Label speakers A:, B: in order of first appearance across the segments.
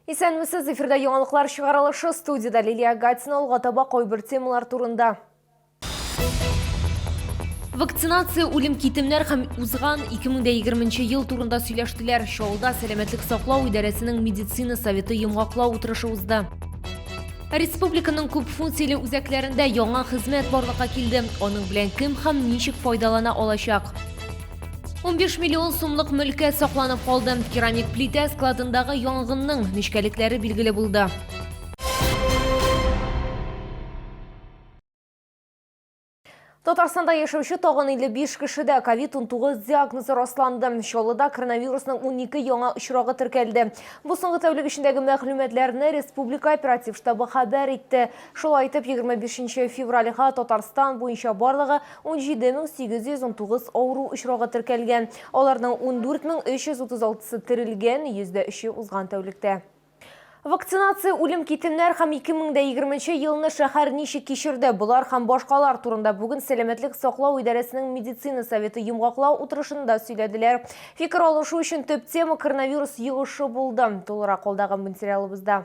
A: Исәнмесез, эфирда яңалыклар чыгарылышы студиядә Лилия Гатина алга таба кайбер темалар турында. Вакцинация, үлем китемнәр һәм узган 2020 ел турында сөйләштеләр. Чаллыда сәламәтлек саклау идарәсенең медицина советы йомгаклау утырышы узды. Республиканың күп функцияле үзәкләрендә яңа хезмәт барлыкка килде. Аның белән кем һәм ничек файдалана алачак? 15 миллион сумлык мөлкә сакланып калды. Керамик плитә складындагы янгынның нечкәлекләре билгеле булды. Татарстанда яшәүче тагын 55 кешедә COVID-19 диагнозы расланды. Чаллыда коронавирусның 12 яңа очрагы теркәлде. Бу соңгы тәүлек эчендәге мәгълүматларны республика оператив штабы хәбәр итте. Шулай итеп, 25 февральга Татарстан буенча барлыгы 17809 авыру очрагы теркәлгән, аларның 14336-сы терелгән, йөздә өче узган тәүлектә. Вакцинация, үлем-китемнәр һәм 2020 нче елны шәһәр ничек кичерде, болар һәм башкалар турында бүген сәламәтлек саклау идарәсенең медицина советы йомгаклау утырышында сөйләделәр. Фикер алышу өчен төп тема коронавирус йогышы булды. Тулырак алдагы материалыбызда.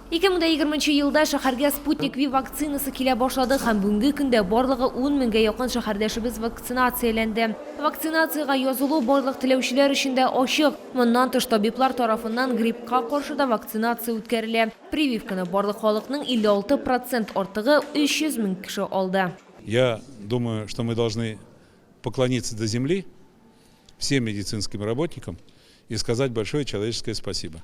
B: 2020 елда
A: шәһәргә Sputnik V вакцинасы килә башлады һәм бүгенге көндә барлыгы 10 меңгә якын шәһәрдәшебез вакцинацияләнде. Вакцинациягә язылу барлык теләүчеләр өчен дә ачык. Моннан тыш табиблар тарафыннан гриппка каршы да вакцинация үткәрелә. Прививканы барлык халыкның 56 процент артыгы, 300 мең кеше алды. Я
C: думаю, что мы должны поклониться до земли всем медицинским работникам и сказать большое человеческое спасибо.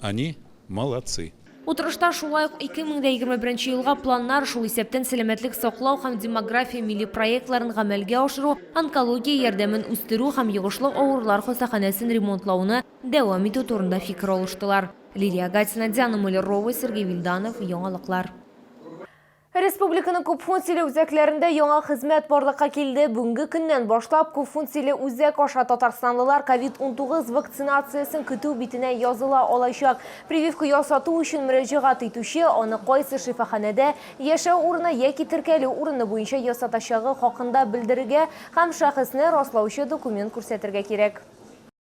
C: Они молодцы. Утырышта шулай
A: ук 2021 елга планнар, шул исәптән сәламәтлек саклау һәм демография милли проектларын гамәлгә ашыру, онкология ярдәмен үстерү һәм йогышлы авырулар хастаханәсен ремонтлауны дәвам итү турында фикер алыштылар. Лилия Гатина, Диана Муллерова, Сергей Вильданов, Яңалыклар. Республиканың күпфункцияле үзәкләрендә яңа хезмәт барлыкка килде. Бүгенге көннән башлап күпфункцияле үзәк аша татарстанлылар ковид-19 вакцинациясен көтү битенә языла алачак. Прививка ясату өчен мөрәҗәгать итүче аны кайсы шифаханәдә, яшәү урыны яки теркәлү урыны буенча ясатачагы хакында белдерергә һәм шәхесне раслаучы документ күрсәтергә кирәк.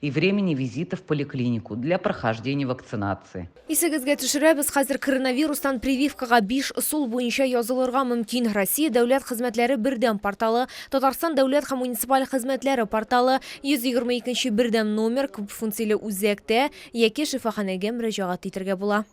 D: и времени визита в поликлинику для прохождения вакцинации. Исегезгә төшерәбез,
A: хәзер коронавирустан прививкага биш ысул буенча язылырга мөмкин. Россия дәүләт хезмәтләре бердәм порталы, Татарстан дәүләт һәм муниципаль хезмәтләре порталы, 120 икенче бердәм номер, күпфункцияле үзәктә яки шифаханәгә мөрәҗәгать итәргә була.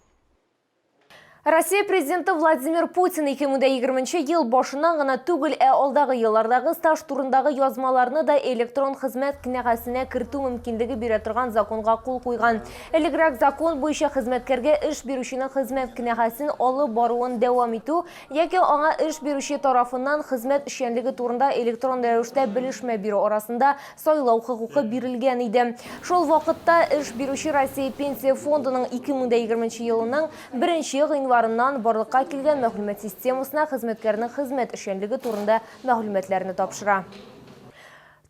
A: Россия президенты Владимир Путин 2020 ел башыннан гына түгел, ә алдагы еллардагы стаж турындагы язмаларны да электрон хезмәт кенәгәсенә кертү мөмкинлеге бирә торган законга кул куйган. Элегрәк закон буенча хезмәткәргә эш бирүченең хезмәт кенәгәсен алып баруын дәвам итү яки аңа эш бирүче тарафыннан хезмәт эшчәнлеге турында электрон рәвештә белешмә бирү арасында сайлау хокукы бирелгән иде. Шул вакытта эш бирүче Россия Пенсия фондының 2020 елының 1 гыйнварыннан барлыкка килгән мәгълүмат системасына хезмәткәрнең хезмәт эшчәнлеге турында мәгълүматларны тапшыра.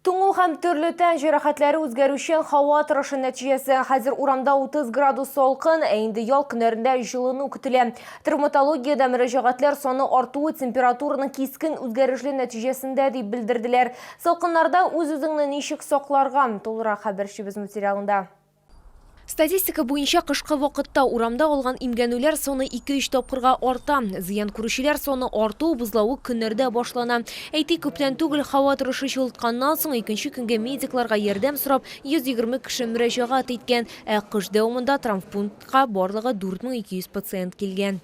A: Туңу һәм төрле тән җәрәхәтләре үзгәрүчән һава торышы нәтиҗәсе. Хәзер урамда 30 градус салкын, ә инде ял көннәрендә җылыну көтелә. Травматологиядә мөрәҗәгатьләр саны артуы температураның кискен үзгәрешле нәтиҗәсендә дип белдерделәр. Салкыннарда үз-үзеңне ничек сакларга? Тулырак хәбәрчебез материалында. Статистика буенча кышкы вакытта урамда алган имгәнүләр саны ике-өч тапкырга арта. Зыян күрүчеләр саны арту бозлавык көннәрдә башлана. Әйтик, күптән түгел һава торышы җылытканнан соң икенче көнгә медикларга ярдәм сорап 120 кеше мөрәҗәгать иткән, ә кыш дәвамында травмпунктка барлыгы 4200 пациент килгән.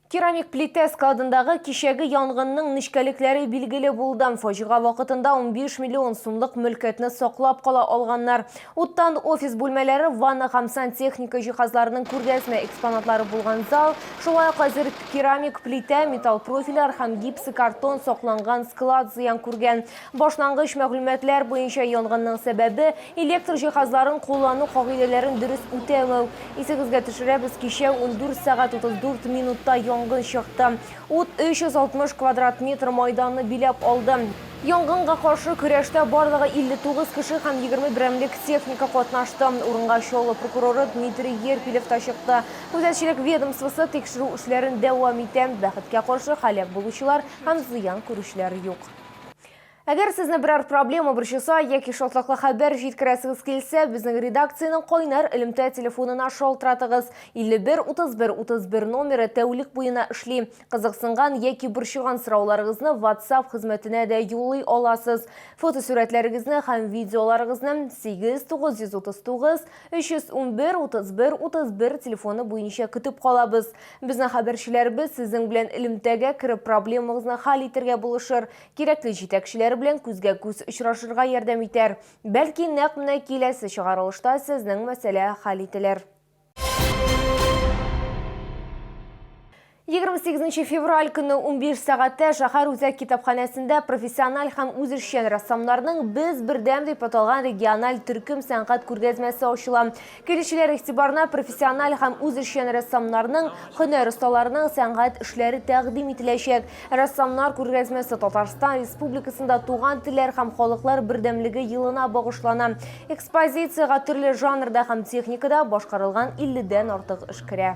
A: Керамик плитә складындагы кичәге янгынның нечкәлекләре билгеле булды. Фаҗига вакытында 15 миллион сумлык мөлкәтне саклап кала алганнар. Уттан офис бүлмәләре, ванна һәм сантехника җиһазларының күргәзмә экспонатлары булган зал, шулай ук әзер керамик плитә, металл профильләр һәм гипсокартон сакланган склад зыян күргән. Башлангыч мәгълүматлар буенча янгынның сәбәбе, электр җиһазларын куллану кагыйдәләрен дөрес үтәмәү. Исегезгә төшерәбез, кичә ундүрт сәгать утыз дүрт минутта янгын чыкты. Ут 360 квадрат метр майданны биләп алды. Янгынга каршы көрәштә барлыгы 59 кеше һәм егерме берәмлек техника катнашты. Урынга Чаллы прокуроры Дмитрий Ерпилев та чыкты. Күзәтчелек ведомствосы тикшерү эшләрен дәвам итә. Бәхеткә каршы, һәлак булучылар һәм зыян күрүчеләр юк. Әгәр сезне берәр проблема борчыса яки шатлыклы хәбәр җиткерәсегез килсә, безнең редакциянең кайнар элемтә телефонына шалтыратыгыз. 51 31 31 номеры тәүлек буена эшли. Кызыксынган яки борчыган сорауларыгызны WhatsApp хезмәтенә дә юллый аласыз. Фотосурәтләрегезне һәм видеоларыгызны 8 939 311 31 31 телефоны буенча көтеп калабыз. Безнең хәбәрчеләребез сезнең белән элемтәгә кереп проблемагызны хәл итергә булышыр, кирәкле җитәкчеләр белән күзгә-күз очрашырга ярдәм итәр. Бәлки нәкъ менә киләсе чыгарылышта сезнең мәсьәлә хәл ителер. 28 февраль көне 15 сәгатьтә шәһәр үзәк китапханәсендә профессиональ һәм үзешчән рәссамнарның Без бердәм дип аталган региональ төркем сәнгать күргәзмәсе ачыла. Килүчеләр игътибарына профессиональ һәм үзешчән рәссамнарның, һөнәр осталарының сәнгать эшләре тәкъдим ителәчәк. Рәссамнар күргәзмәсе Татарстан Республикасында Туган телләр һәм халыклар бердәмлеге елына багышлана. Экспозициягә төрле жанрда һәм техникада башкарылган 50 дән артык эш керә.